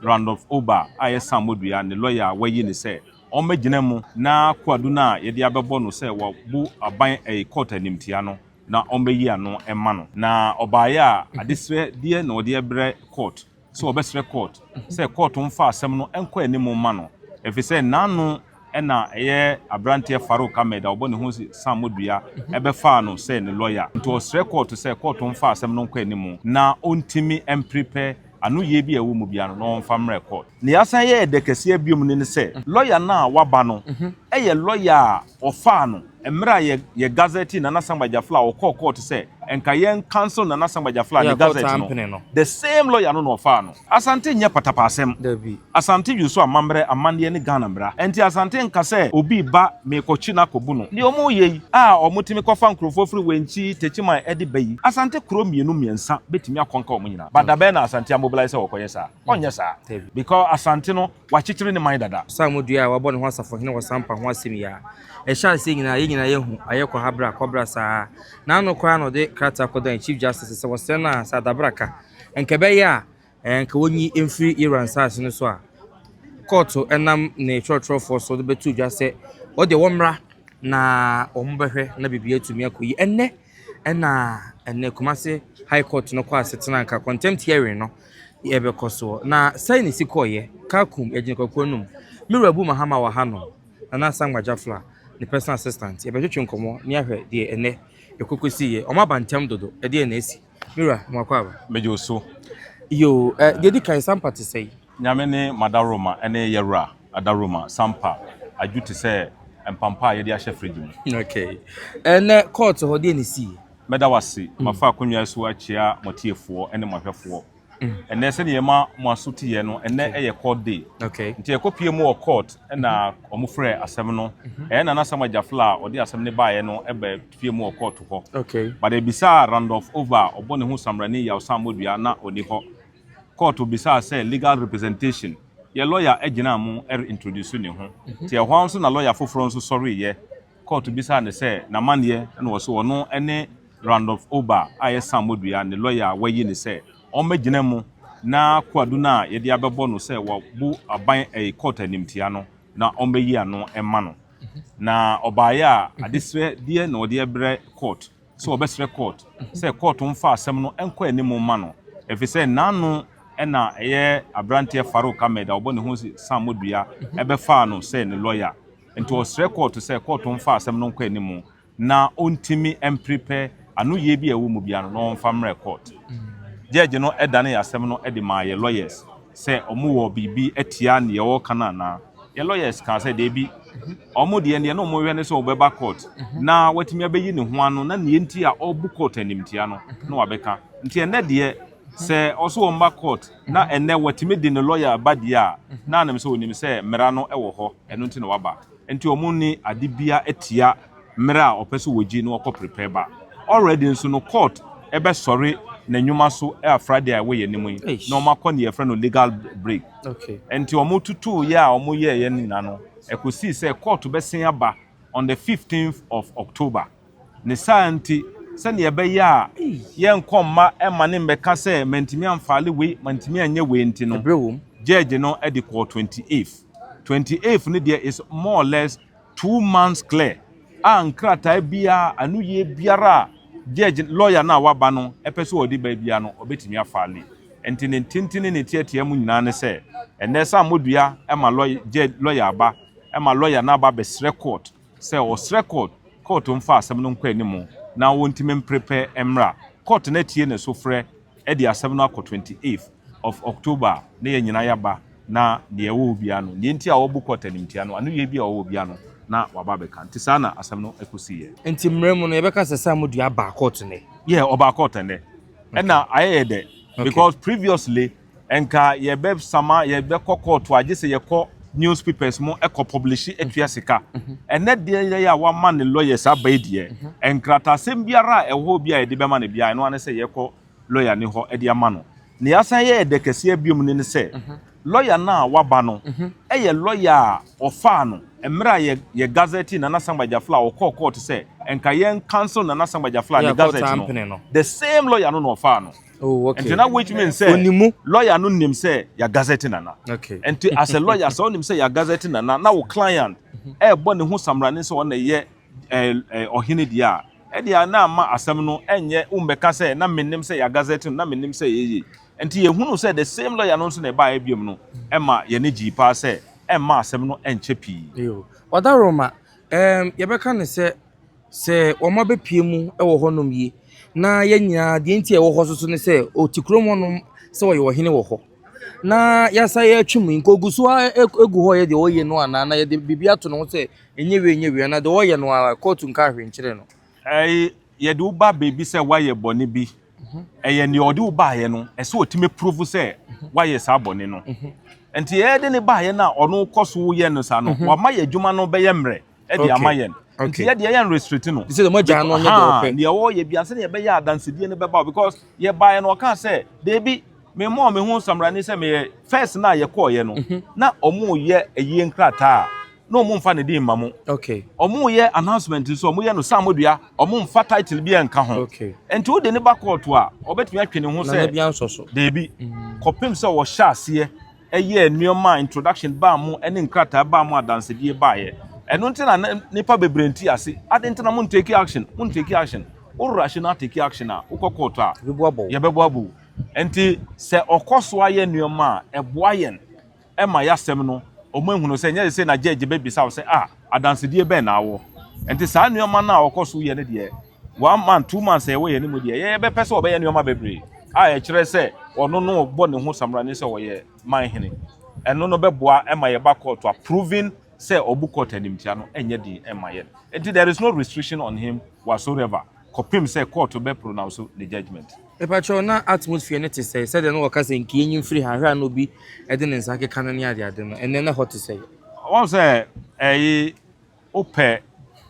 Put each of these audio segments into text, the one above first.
Randolph Ober a ɛyɛ sammɔdua ne lɔya a wɔayi no sɛ ɔmmɛgyina mu na koadu no a yɛde abɛbɔ no sɛ wabu aban ɛyɛ kɔɔto animtia no na ɔmmɛyi ano mma no. Na ɔbaeɛ a adesrɛ deɛ na ɔde ɛbrɛ kɔɔt sɛ ɔbɛsrɛ kɔɔt sɛ kɔɔto mfa asɛm no nkɔ anim mma no ɛfiri sɛ n'ano Ɛna ɛyɛ abranteɛ Farouk Ahmed a ɔbɔ ne ho sammɔdua bɛfaa no sɛ ne lɔya. Nti ɔsrɛ kɔɔto sɛ kɔɔto mfa asɛm no nkɔ anim na ɔntumi mprepɛ anoyie bi a ɛwɔ mu biara no na ɔmfa mmrɛ kɔɔto. Nea asan yɛ ɛdɛ kɛseɛ biom no ne sɛ lɔya no a waba no yɛ lɔya a ɔfaa no Mmerɛ a yɛ yɛ gazɛte Nana Sankpa Gyafla a ɔkɔɔ kɔɔto sɛ nka yɛn cancel Nana Sankpa Gyafla ne gazɛte no, the same lawyer no na ɔfaa no. Asante nyɛ patapaasɛm. Asante dwo so amammerɛ, amanneɛ ne Ghana mmara. Ɛnti Asante nka sɛ obi reba merekɔkye no akɔbu no. Deɛ wɔreyɛ yi a wɔtumi kɔfa nkurɔfoɔ firi Wenchi, Techiman de ba yi, Asante kuro mmienu mmiɛnsa bɛtumi akɔnka wɔn nyinaa. But dabɛn na Asante amobilise sɛ wɔkɔyɛ saa? Ɔnyɛ saa. Dabi. Because Asante no, wɔakyekyere ne man dada. Saamo dua a wɔabɔ ne ho asafohene wɔ sampa ho asɛm yi a, ɛhyɛ aseɛ nyinaa, yɛn nyinaa yɛahu, ayɛ kɔ ha bra, kɔ bra saa. N'ano koraa na ɔde krataa kɔdan Chief Justice sɛ wɔsrɛ no a, sɛ adabra ka, anka ɛbɛyɛ a, anka wɔnyi mfiri Yera nsaase no so a, kɔɔto nam ne twerɛtwerɛfoɔ so de bɛto dwa sɛ, wɔdeɛ wɔmmra na wɔbɛhwɛ na biribiara atumi akɔ yie. Ɛnnɛ, Ɛna ɛnɛ Kumasi High Court no kɔ asetena nka contempt hearing no yɛ bɛkɔ soɔ. Na sɛe na ɛsi kɔɔyɛ, Kakum, yɛgyina kwakuo anum. Me wura Abu Mahama wɔ ha nom, Nana Asamoah Jafla, ne personal assistant, yɛbɛtwetwe nkɔmmɔ ne ahwɛ deɛ ɛnɛ ɛkɔkɔsiiɛ. Wɔn aba ntɛm dodo, ɛdeɛn na asi? Me wura, mo akɔ aba? Megye wo so. Yoo, deɛ ɛdi kan, saa mpa te sɛn? Nyame ne m'adaworoma ne yɛwura. Adaroma, Sampa, Adwo te sɛ mpampa a yɛde ahyɛ fridge mu. Okay. Ɛnɛ court hɔ deɛ ne sii? Mɛda wo ase. Mm. Mafa akonnwa yi so akyia mo tiefoɔ ne mo ahwɛfoɔ. Mm. Ɛnɛ sɛdeɛ yɛma mo aso teɛ no, ɛnɛ okay. ɛyɛ court day. Okay. Nti ɛkɔpie mu wɔ court ɛna mm-hmm. wɔn frɛ asɛm no. Mm-hmm. Ɛyɛ Nana Samuel Gyafla a ɔde asɛm no baeɛ no ɛbɛ pie mu wɔ court hɔ. Okay. But ɛbisaa Randolph Ova a ɔbɔ ne ho samrani Yawsan Modua na ɔni hɔ. kɔɔto bisaa sɛ legal representation yɛ lɔya agyina mo re introduce ne ho nti ɛhɔ ara nso na lɔya foforɔ nso sɔreeɛ kɔɔto bisaa no sɛ n'amanneɛ ɛna ɔse ɔno ne Randolph Oba a ɛyɛ Sam Modua ne lɔya a wayi no sɛ ɔmmɛgyina mu na koadu no a yɛde abɛbɔ no sɛ wabu aban ɛyi kɔɔto animtia no na ɔmmɛyi ano mma no na ɔbaeɛ a adesrɛdeɛ na ɔde brɛ kɔɔto. sɛ ɔbɛsrɛ court sɛ court mfa asɛm no nkɔ anim mma no efisɛ n'ano na ɛyɛ abranteɛ Farouk Ahmed a ɔbɔ ne ho sammɔdua ɛbɛfaa no sɛ ne lɔya nti ɔsrɛ court sɛ court mfa asɛm no nkɔ anim na ɔntimi mprepɛ anoyie bi a ɛwɔ mu biara no na ɔmfa mmrɛ court. Judge no danee asɛm no de maa yɛ lawyers sɛ wɔwɔ biribi atia nea ɔreka no anaa. Yɛn lawyers kaa sɛ dabi, wɔn deɛ deɛ na wɔhwɛ ne sɛ ɔbɛba court na watumi abɛyi ne ho ano na nea nti a ɔrebu court animtia no na wabɛka. Nti ɛnnɛ deɛ sɛ ɔso wɔmma court na ɛnnɛ watumi de ne lawyer ba deɛ a, na anim sɛ ɔnim sɛ mmara no wɔ hɔ, ɛno nti na waba. Nti ɔmo nni ade biaa atia mmere a ɔpɛ sɛ wɔgye na wɔkɔ prepare ba. Already nso no court bɛsɔre na nnwuma so a Friday a ɛwɔ yɛn anim yi na ɔmo akɔ neɛ yɛfrɛ no legal break. Nti ɔmo tutuu yɛ a ɔmo yɛɛyɛ no nyinaa no ɛkɔsii sɛ court bɛsen aba on the fifteenth of October. Ne saa nti, sɛnea ɛbɛyɛ a yɛrenkɔ mma ɛmma ne mmɛka sɛ mantumi amfaale wei, mantumi anyɛ wei nti no, gyɛɛgye no de kɔɔ twenty eighth. Twenty eighth no deɛ is more or less two months clear a nkrataa biara, anoyie biara a gyɛɛgye, lɔya no a waba no pɛ sɛ ɔde ba biara no, ɔbɛtumi afaale. Nti ne ntinti ne ne teatea mu nyinaa ne sɛ, ɛnnɛ sɛ ammɔdua ma lɔya aba, ma lɔya no aba abɛsrɛ court, sɛ ɔsrɛ kɔɔt kɔɔt mfa asɛm no nkɔ anim na wɔntumi mpere pɛ mmra kɔɔt na atie ne sofrɛ de asɛm no akɔ twenty eighth of October a na yɛn nyinaa yɛaba na nea ɛwɔ hɔ biara no nea nti a wɔabu kɔɔt animtia no ano yie bi a ɛwɔ hɔ biara no na waba abɛka nti saa na asɛm no kɔsiiɛ. Nti mmerɛ mu no yɛbɛka sɛ Sam Odua baa kɔɔt nnɛ? Yeah, ɔbaa kɔɔt nnɛ ɛna ayɛ yɛ dɛ because previously Nka yɛbɛsama yɛbɛkɔ kɔɔto a gye sɛ yɛkɔ news papers mu kɔ publishi tua sika. Ɛnɛ deɛ yɛyɛ a wama ne lawyers aba yi deɛ, nkrataasɛm biara a ɛwɔ hɔ bi a yɛde bɛma no biara, ɛno ara ne sɛ yɛkɔ lawyer no hɔ de ama no. Nea yɛasan yɛ ɛdɛ kɛseɛ biom no ne sɛ, lawyer no a waba no yɛ lawyer a wɔfaa no mmerɛ a yɛ yɛ gazetee Nana Sankba Gyafla a ɔkɔɔ kɔɔto sɛ nka yɛn cancel Nana Sankba Gyafla ne gazette no, the same lawyer no na ɔfaa no. Oh, okay. Nti na which means sɛ Onimu. lawyer no nim sɛ ya gazette nana. Okay. Nti as a lawyer sɛ onim sɛ ya gazette nana na wo client ɛbɔ ne ho samrane sɛ ɔna yɛ eh, eh, ɔhene deɛ a ɛde a na ama asɛm no ɛnyɛ wombɛka sɛ na menim sɛ ya gazette no na menim sɛ yɛyɛ nti yɛhunu sɛ the same lawyer no nso na ɛbaeɛ biom no ɛma yɛne gyii paa sɛ ɛmma asɛm no ɛnkyɛ pii Yo. Ɔda Roma, um, yɛbɛka ne sɛ sɛ wɔn abɛpue mu wɔ hɔ nom yi, na yɛn nyinaa deɛ nti a yɛwɔ hɔ nso ne sɛ, ɔte kurom hɔ nom sɛ ɔyɛ ɔhene wɔ hɔ. Na yɛasan yɛatwi mu, nka ɔgu so ara gu hɔ reyɛ deɛ ɔreyɛ no anaa na yɛde biribi ato ne ho sɛ ɛnyɛ wei ɛnyɛ wei anaa deɛ ɔreyɛ no ara kɔɔto nkaa hwee nkyerɛ no. Ɛɛ yɛde wo ba baabi sɛ woayɛ bɔne bi, ɛyɛ deɛ ɔde wo baeɛ no, ɛsɛ ɔtumi apuruvu sɛ woayɛ saa bɔne no. Nti ɛyɛ de ne baeɛ no a ɔno kɔ so yɛ no saa no, wama yɛn adwuma no bɛyɛ mmerɛ. ɛde ama yɛn nti yɛ deɛ yɛn restrict no sɛ deɛ mogya no nyɛ deɛ ɔpɛ deɛ ɔyɛ bia sɛ deɛ ɛbɛyɛ adansedie no bɛba because yɛ baeɛ no ɔka sɛ deebi me mɔ me ho samrani sɛ meyɛ first na yɛ kɔɔyɛ no mhm. na ɔmo yɛ ɛyie nkrataa na ɔmo nfa ne din ma mo ɔmo yɛ announcement nso ɔmo yɛ no saa mo dua ɔmo nfa title bi ɛnka ho nti o de ne ba kɔɔto a ɔbɛtumi atwe ne ho sɛ deebi mhm. kɔpem sɛ ɔhyɛ aseɛ. yɛɛ nneɛma a introduction baa mu ne nkrataa baa mu adansedie baeɛ. Ɛno nti na na nnipa bebree nte ase. Adɛn nti na mo nteki action? Mo nteki action? Wo rush no ateki action a, wokɔ court a, yɛbɛbɔ abɔ wo. Nti sɛ ɔkɔ so ayɛ nneɛma a, ɛboa yɛn ma yɛasɛm no, wɔahunu sɛ nyɛ sesei na judge bɛbisa wo sɛ ah adansedie bɛn na wowɔ. Nti saa nneɛma no a ɔkɔ so yɛ no deɛ, one month two months a ɛwɔ yɛn mu deɛ yɛyɛ bɛpɛ sɛ ɔbɛyɛ nneɛma bebree a ɛkyerɛ sɛ ɔno no bɔ ne ho samrane sɛ ɔyɛ man hene ɛno no bɛboa ɛma yɛba court a proving sɛ ɔbu court animtia no ɛnyɛ den ɛma yɛn nti there is no restriction on him whatsoever kɔpem sɛ court bɛ pronounce ne judgment. Mepakyɛw na atmosphere no te sɛe sɛdeɛ na wɔka sɛ nka yɛnyi mfiri ha hwɛ a na obi de ne nsa keka no ne adeade no ɛnnɛ na ɛhɔ te sɛe. Wɔn sɛ ɛyi Wopɛ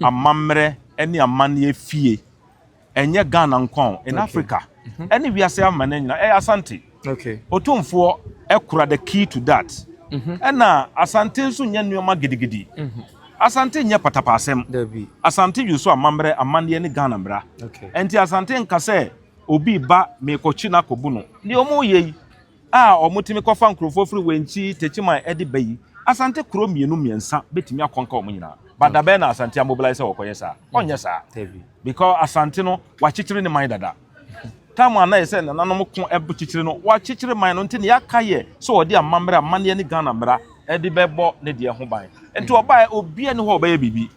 amammerɛ ne amanneɛ fie, ɛnyɛ Ghana nko a, in Africa ne wiase amanneɛ nyinaa, ɛyɛ Asante. Otumfoɔ kura the key to that. Ɛna Asante nso nyɛ nneɛma gidigidi. Asante nyɛ patapaasɛm. Asante use amammerɛ, amanneɛ ne Ghana mmara. Ɛnti Asante nka sɛ obi ba meekɔkyi no akɔbu no. Deɛ wɔreyɛ yi, a wɔtumi kɔfa nkurɔfoɔ firi Wenchi, Techiman de ba yi, Asante kuro mmienu mmiɛnsa bɛtumi akɔnka wɔn nyinaa. But da bɛn na Asante amobilise sɛ wɔkɔyɛ saa? Ɔnyɛ saa. Because Asante no, wɔakyekyere ne man dada. Time a na ɛyɛ sɛ nananom ko kyekyere no, wɔakyekyere man no nti nea aka yɛ sɛ ɔde amammerɛ amanneɛ ne Ghana mmara de bɛbɔ ne deɛ ho ban. Nti ɔbaeɛ, obiara nni hɔ a ɔbɛyɛ biribi.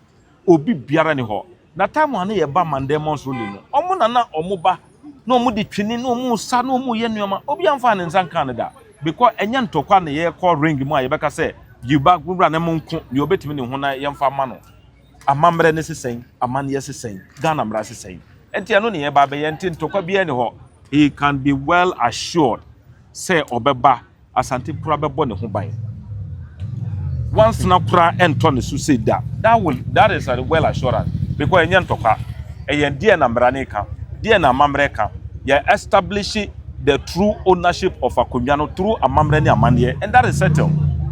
obi biara ni hɔ. Na time a na yɛba Mandemos rally no, wɔn na na wɔba na wɔde twene na wɔsa na wɔyɛ nneɛma. Obiara mfaa ne nsa nkaa no da because ɛnyɛ ntɔkwa na yɛkɔ ring mu a yɛbɛka sɛ Yuba wura ne mo nko deɛ ɔbɛtumi ne ho na yɛmfa ma no. Amammerɛ ne se sɛn, amanneɛ se sɛn, Ghana mmara se sɛn. Ɛnti ɛno na yɛba abɛyɛ nti ntɔkwa biara ni hɔ. He can be well assured sɛ ɔbɛba Asante koraa bɛbɔ ne ho ban. Nwansena koraa ɛntɔ ne so sei da. That will, that is a well assurance because ɛnyɛ ntɔkwa. Ɛyɛ deɛ na mmara no reka, deɛ na amammerɛ reka. Yɛ establish the true ownership of akonnwa no through amammerɛ ne amanneɛ and that is settled.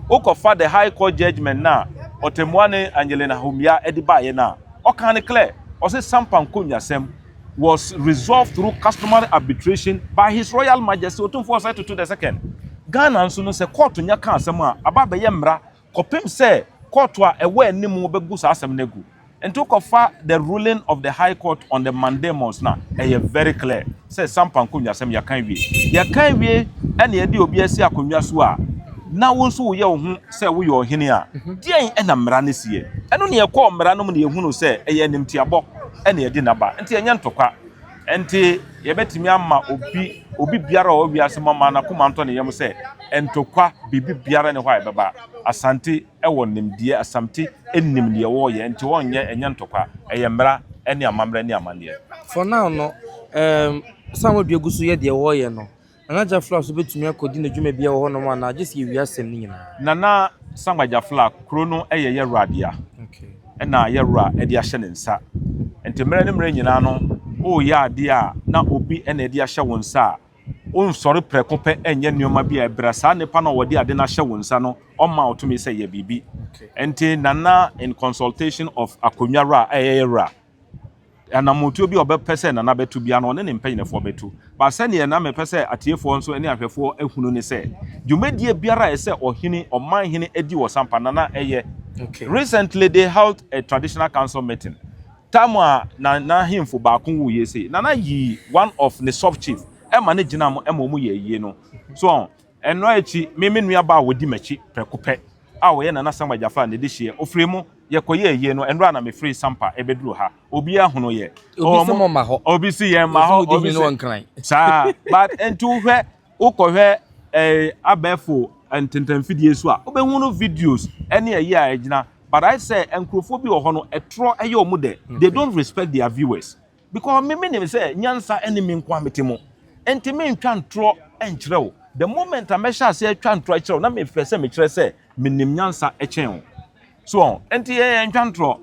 Wokɔfa the high court judgement no a Ɔtɛmmuane Angelina Homia de baeɛ no a, ɔkaa no clear. Ɔse Sampa nkonnwasɛm was resolved through customary arbitration by His Royal Majesty Otumfuo Osei Tutu the Second. Ghana nso no, sɛ kɔɔto nya ka asɛm a, aba abɛyɛ mmara kɔpem sɛ kɔɔto a ɛwɔ anim bɛgu saa asɛm no agu. Nti wokɔfa the ruling of the High Court on the mandamus no a, ɛyɛ very clear sɛ sampa nkonnwasɛm yɛaka awie. Yɛka awie na yɛde obi asi akonnwa so a, na wo nso woyɛ wo ho sɛ woyɛ ɔhene a, deɛn na mmara no si ɛ? Ɛno na yɛkɔɔ mmara no mu na yɛhunuu sɛ ɛyɛ animtiabɔ. na ɛde no aba. Enti ɛnyɛ ntɔkwa. Enti yɛbɛtumi ama obi, obi biara a ɔwɔ wiase mu ama n'akoma ntɔ ne yam sɛ ntɔkwa biribi biara ne hɔ a ɛbɛba. Asante wɔ nimdeɛ, Assamte nim deɛ wɔreyɛ, enti wɔrenyɛ, ɛnyɛ ntɔkwa. Ɛyɛ mmara ne amammerɛ ne amanneɛ. For now no, ɛɛm, sɛ wɔn adua gu so yɛ deɛ wɔreyɛ no, Nana Jafla nso bɛtumi akɔdi ne dwumadie wɔ hɔnom anaa gye sɛ yɛwie asɛm no nyinaa? Nana Sankpa Jafla, kuro no yɛ Yawura dea ɛna Yawura de ahyɛ ne nsa nti mmerɛ ne mmerɛ nyinaa no woreyɛ adeɛ a na obi na ɛde ahyɛ wo nsa a, wonsɔre prɛko pɛ nyɛ nneɛma bi a ɛbra saa nipa no a ɔde ade no ahyɛ wo nsa no ɔmma wo tumi sɛ yɛ biribi. Nti Nana in consultation of Akonnwa Wura a ɛyɛ Yawura Anammɔntuo bi a ɔbɛpɛ sɛ Nana bɛto biara no, ɔne ne mpanyinfoɔ bɛto. But sɛdeɛ na mepɛ sɛ atiefoɔ nso ne ahwɛfoɔ hunu ne sɛ, dwumadie biara a ɛsɛ ɔhene, ɔmanhene di wɔ Sampa, Nana yɛ. Okay. Recently they held a traditional council meeting. Time a na n'ahemfo baako wuiɛ sei, Nana yii one of ne sub-chief ma no gyinaa mu ma wɔyɛɛ ayie no. So ɔho? Ɛno akyi, me me nuabaa a ɔdi m'akyi prɛko pɛ a ɔyɛ Nana Samuel Gyafaa ne dehyeɛ. Ɔfirii mu, yɛkɔyɛɛ ayie no, ɛnora na mefirii Sampa rebɛduru ha. Obiara hunuu yɛn. Obi se mo mma hɔ. Obi se yɛn mma hɔ. Obi se mo di hene wɔ Nkran. Saa. But nti wohwɛ, wokɔhwɛ eh, abɛɛfo ntentanfidie so a, wobɛhunu videos ɛne ayie a ɛgyina. But ayɛ sɛ nkurɔfoɔ bi wɔ hɔ no, ɛtorɔ yɛ wɔn dɛ. They don't respect their viewers. Because me menim sɛ nyansa ɛne me nkoa mete mu nti mentwa ntorɔ nkyerɛ wo. The moment a mɛhyɛ aseɛ atwa ntorɔ akyerɛ wo na mepɛ sɛ mekyerɛ sɛ menim nyansa kyɛn wo. So ɔho? Nti yɛn yɛntwa ntorɔ,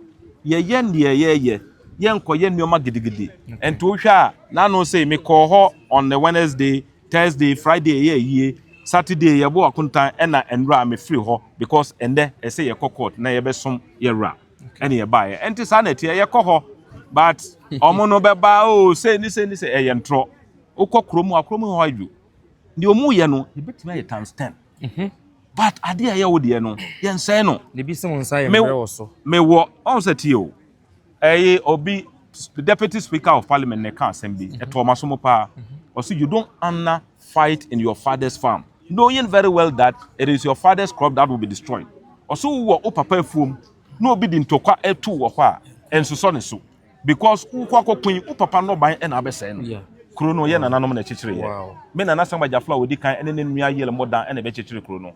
yɛyɛ deɛ yɛyɛ, yɛnkɔyɛ nneɛma gidigidi. Nti wohwɛ a na ano sei mekɔɔ hɔ on the Wednesday, Thursday, Friday yɛyɛ ayie, Saturday yɛbɔ akontan ɛna nnora mefiri hɔ because ɛnnɛ ɛsɛ yɛkɔ court na yɛbɛsom yɛn wura. ɛne yɛbaeɛ ɛnte saa na ɛteɛ yɛkɔ hɔ but ɔmo no bɛba o oh, sɛ ni sɛ ni sɛ ɛyɛ ntorɔ wokɔ kuro mu akuro mu hɔ adwo deɛ ɔmo yɛ no yɛbɛtumi ayɛ times ten mhm. but adeɛ a ɛyɛ wo deɛ no yɛnsɛe no mewɔ ɔn sɛ tie o ɛyɛ obi deputy speaker of parliament na ɛka asɛm bi mhm. ɛtɔ ɔma so mo paa mhm. ɔsi you don't honor fight in your father's farm knowing very well that it is your father's crop that will be destroyed. Ɔsɛ wowɔ wo papa afuom na obi de ntɔkwa atu wɔ hɔ a, ɛnsosɔ ne so because wokɔ akɔko yi, wo papa nnɔban na abɛsɛe no. Kuro no, yɛn nananom na ɛkyekyereeɛ. Me nana Sam Agyaflo a ɔdi kan ne ne nua Yale Modan na ɛbɛkyekyere kuro no.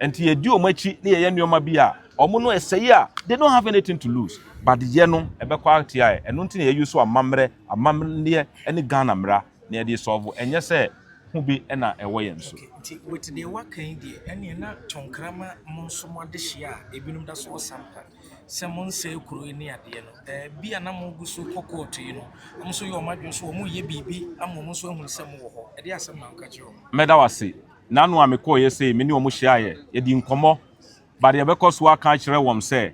Enti yɛdi wɔn akyi na yɛyɛ nneɛma bi a wɔn no ɛsɛe a they don't have anything to lose but yɛ no ɛbɛkɔ atia ɛ ɛno nti na yɛyi so amammerɛ amammerɛ ɛne Ghana mmara na yɛde sɔɔvo ɛnyɛ sɛ ho bi ɛna ɛwɔ yɛn so. Nti with deɛ waka yi deɛ ɛneɛ na tɔnkrama mo nso mo adehyia a ebinom da so wɔ sampa sɛ mo nsɛe kuro yi ne adeɛ no ɛɛ bi a na mo gu so kɔ kɔɔto yi no wɔn nso yɛ wɔn adwene so wɔn yɛ biribi ama wɔn nso ahunu sɛ mo wɔ hɔ ɛde asɛm na nka kyerɛ wɔn. Mɛda wase Nano a mekɔeɛ sei, me ne wɔn hyiaeɛ, yɛdii nkɔmmɔ, but yɛbɛkɔ so aka akyerɛ wɔn sɛ,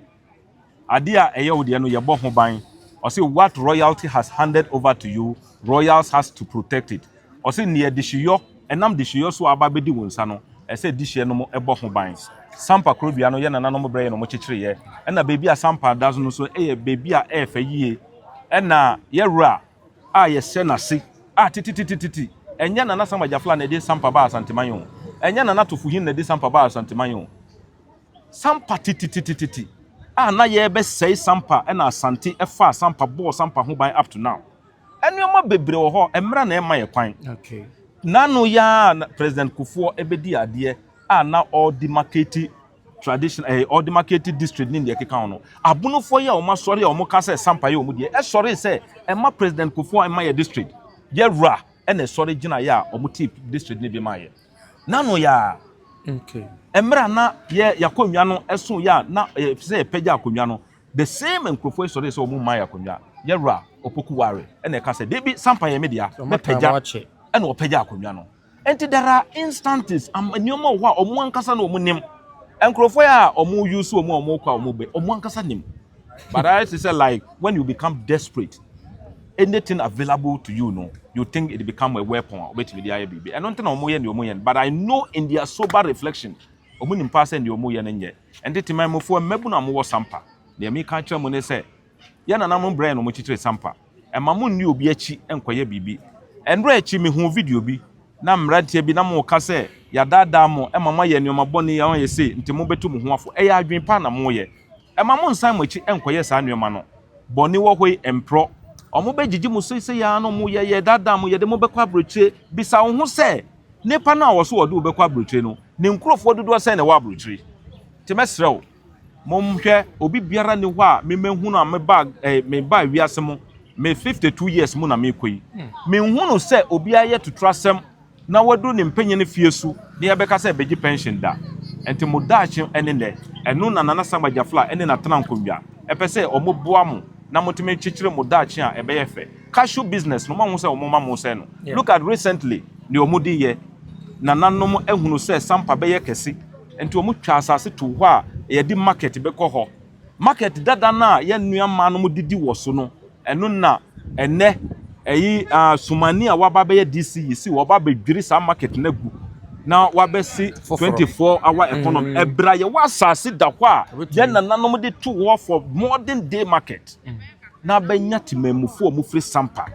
Adeɛ a ɛyɛ wo deɛ no, yɛbɔ ho ban. Ɔse, What royalty has handed over to you, royals has to protect it. Ɔse, Neɛ dehyeyɔ, ɛnam dehyeyɔ so a aba abɛdi wo nsa no, ɛsɛ sɛ dehyɛ no mo bɔ ho ban. Sampa korobea no yɛ nananom berɛeɛ na wɔkyekyereeɛ, ɛna baabi a Sampa da no nso yɛ baabi a ɛyɛ fɛ yie, ɛna yɛwura a yɛhyɛ n'ase a tetetetete, ɛnyɛ Nana Sam Agyafla na ɛde sampa baa Asanteman o, ɛnyɛ Nana Tofohin na ɛde sampa baa Asanteman o. Sampa tetetetete a na yɛrebɛsɛe sampa na Asante faa sampa bɔɔ sampa ho ban up to now. Nneɛma bebree wɔ hɔ a mmara na ɛmma yɛn kwan. N'ano yi ara a President Kufuor bɛdii adeɛ a na ɔrede marketi traditional ɛyɛ eh, ɔde maketi district ne deɛ ɛkeka ho no abonofoɔ yi a wɔn asɔre a wɔn ka sɛ sampa yɛ wɔn deɛ ɛsɔre sɛ ɛma president kofoɔ ɛma yɛ district yɛ wura ɛna ɛsɔre gyina yɛ a wɔn ti district ne de ma yɛ nano yɛ a mmerɛ a na yɛ yakonnwa no ɛso yɛ a na ɛyɛ sɛ yɛpɛgya akonnwa no the same nkurɔfoɔ yi sɔre sɛ wɔn mma yɛ akonnwa yɛ wura ɔpoku ware ɛna ɛka sɛ debi sampa yɛ me dea mɛpɛgya ɛna ɔpɛgya akonnwa no Enti there are instances am nneɛma wɔ hɔ a wɔn ankasa na wɔn nim. Nkurɔfoɔ a wɔn use wɔn a wɔn kɔ a wɔn bɛ wɔn ankasa nim. But I say say like when you become desperate, anything available to you no, you think it become a weapon a wɔbɛtumi de ayɛ biribi. Ɛno nti na wɔn yɛ nea wɔn yɛ no. But I know in their sober reflection, wɔn nim paa sɛ nea wɔn yɛ no nyɛ. Ɛnti Temanmufoɔ mmabunu a wɔwɔ Sampa, nea meka akyerɛ mo ne sɛ, yɛn nananom brɛɛ no wɔn kyekyere Sampa. Mma munni obi akyi nkɔyɛ biribi. Nnora akyi mihuu video bi na mmeranteɛ bi na moka sɛ yɛadaadaa mo ma moayɛ nnoɔma bɔne a ɔyɛ sei nti mobetu mo ho afo. Ɛyɛ adwene pa na moyɛ. Mma monsan mo akyi nkɔyɛ saa nnoɔma no. Bɔne wɔ hɔ yi mporɔ. Wɔbɛgyegye mo seisei ara na wɔyɛ yɛredaadaa mo yɛde mo bɛkɔ aburokyire. Bisa wo ho sɛ, Nnipa no a wɔse wɔde wo bɛkɔ aburokyire no, ne nkurofoɔ dodoɔ sɛn na ɛwɔ aburokyire? Nti mɛsrɛ wo. Monhwɛ, obi biara nni hɔ a me mahunu a mebaa eh, mebaa wiase mu, me 52 years mu na mekɔ yi. Menhunu sɛ obi ayɛ tuturasɛm na wadu ne mpanyin fie su na yɛbɛka sɛ begye pension da. Nti mo daakye ne nnɛ, ɛno na Nana Sam Agyafla ne n'atena nkonnwa pɛ sɛ wɔboa mo na motumi kyekyere mo daakye a ɛbɛyɛ fɛ. Cashew business no, moahu sɛ wɔma mo sɛe no. Look at recently nea wɔde yɛ. Nananom ahunu sɛ Sampa bɛyɛ kɛse. Enti wɔn twaa asase too hɔ a yɛde market bɛkɔ hɔ. Market dada no a yɛn nua mmaa nom didi wɔ so no, ɛno na ɛnnɛ ɛyi ah Sumani a waba abɛyɛ DC yi si wɔba abɛdwiri saa market no agu na wabɛsi 24 hour economy. Mm. Ɛberɛ a yɛwɔ asase da hɔ a yɛn nananom de too hɔ for modern day market na abɛnya temanmufoɔ a wɔfiri Sampa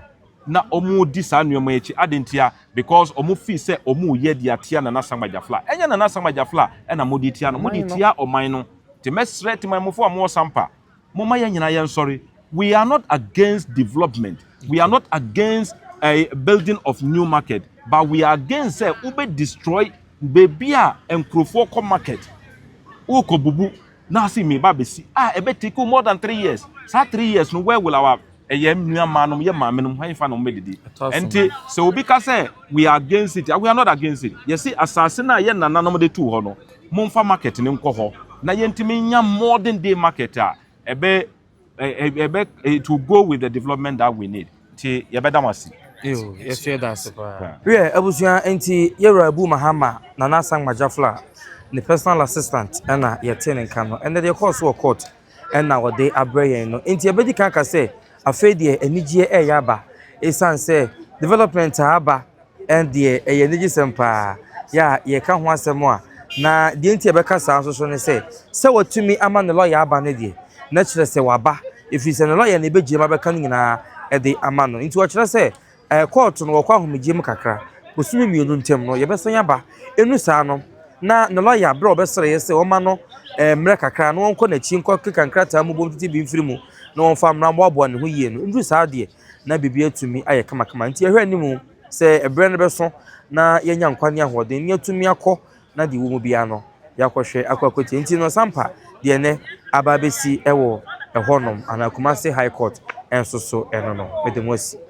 na wɔredi saa nnoɔma yi akyi. Adɛn ntia? Because wɔn feel sɛ wɔn reyɛ de atia Nana Asangba Gyafla. Ɛnyɛ Nana Asangba Gyafla na mo de tia no, mo de tia ɔman no. Nti mɛsrɛ Temanmufoɔ a mo wɔ Sampa, momma yɛn nyinaa yɛn sɔre. We are not against development, we are not against ɛɛ building of new market, but we are against sɛ wo bɛ destroy baabi a nkurofoɔ kɔ market, wo rekɔ bubu Naa si me ba besi a ɛbɛ take wo more than three years saa three years no where will our ɛyɛ nua maa nom yɛ maame nom hɛn fa nom bɛ didi ɛnti sɛ obi ka sɛ we are against it a we are not against it yɛ si asaase no a yɛ nana nom de tuu hɔ no mo nfa market no nkɔ hɔ na yɛ ntumi nya modern day market a ɛbɛ it will go with the development that we need nti yɛbɛda mo ase yɛsɛ da ase paa wiɛ abusua nti yɛwura abu mahama nana asangma jafla ne personal assistant ɛna yɛte ne nka no ɛnɛ deɛ ɛkɔɔ so wɔ court ɛna wɔde abrɛ yɛn no nti yɛbɛdi kan ka sɛ afei deɛ anigyeɛ ɛyɛ aba ɛsiane sɛ development a aba Ɛndeɛ ɛyɛ anigyesɛm pa ara! Yɛ a yɛreka ho asɛm a, na deɛ nti a yɛbɛka saa nso ne sɛ, sɛ wɔatumi ama ne lɔya aba no deɛ, na ɛkyerɛ sɛ waba, ɛfiri sɛ ne lɔya na ɛbɛgyinam abɛka ne nyinaa de ama no. Nti wɔkyerɛ sɛ kɔɔto no wɔkɔ ahomegyeɛ mu kakra, bosome mmienu ntam no yɛbɛsan aba. Ɛnnu saa no, na ne lɔya berɛ a ɔbɛsrɛeɛ sɛ wɔmma no mmerɛ kakra na wɔnkɔ n'akyi nkɔkeka nkrataa mu bɔ mfitibi mfiri mu na wɔmfa mmra mmoaboa ne ho yie no, ɛndu saa deɛ, na biribi atumi ayɛ kamakama. Nti yɛhwɛ anim sɛ ɛberɛ no bɛso na yɛanya nkwa ne ahoɔden ne yɛatumi akɔ na deɛ ɛwɔ mu biara no yɛakɔhwɛ akɔ akɔtie. Nti no sampa deɛ nɛ aba abɛsi wɔ ɛhɔnom anaa Kumasi High Court nso so ɛno no mede mo asi.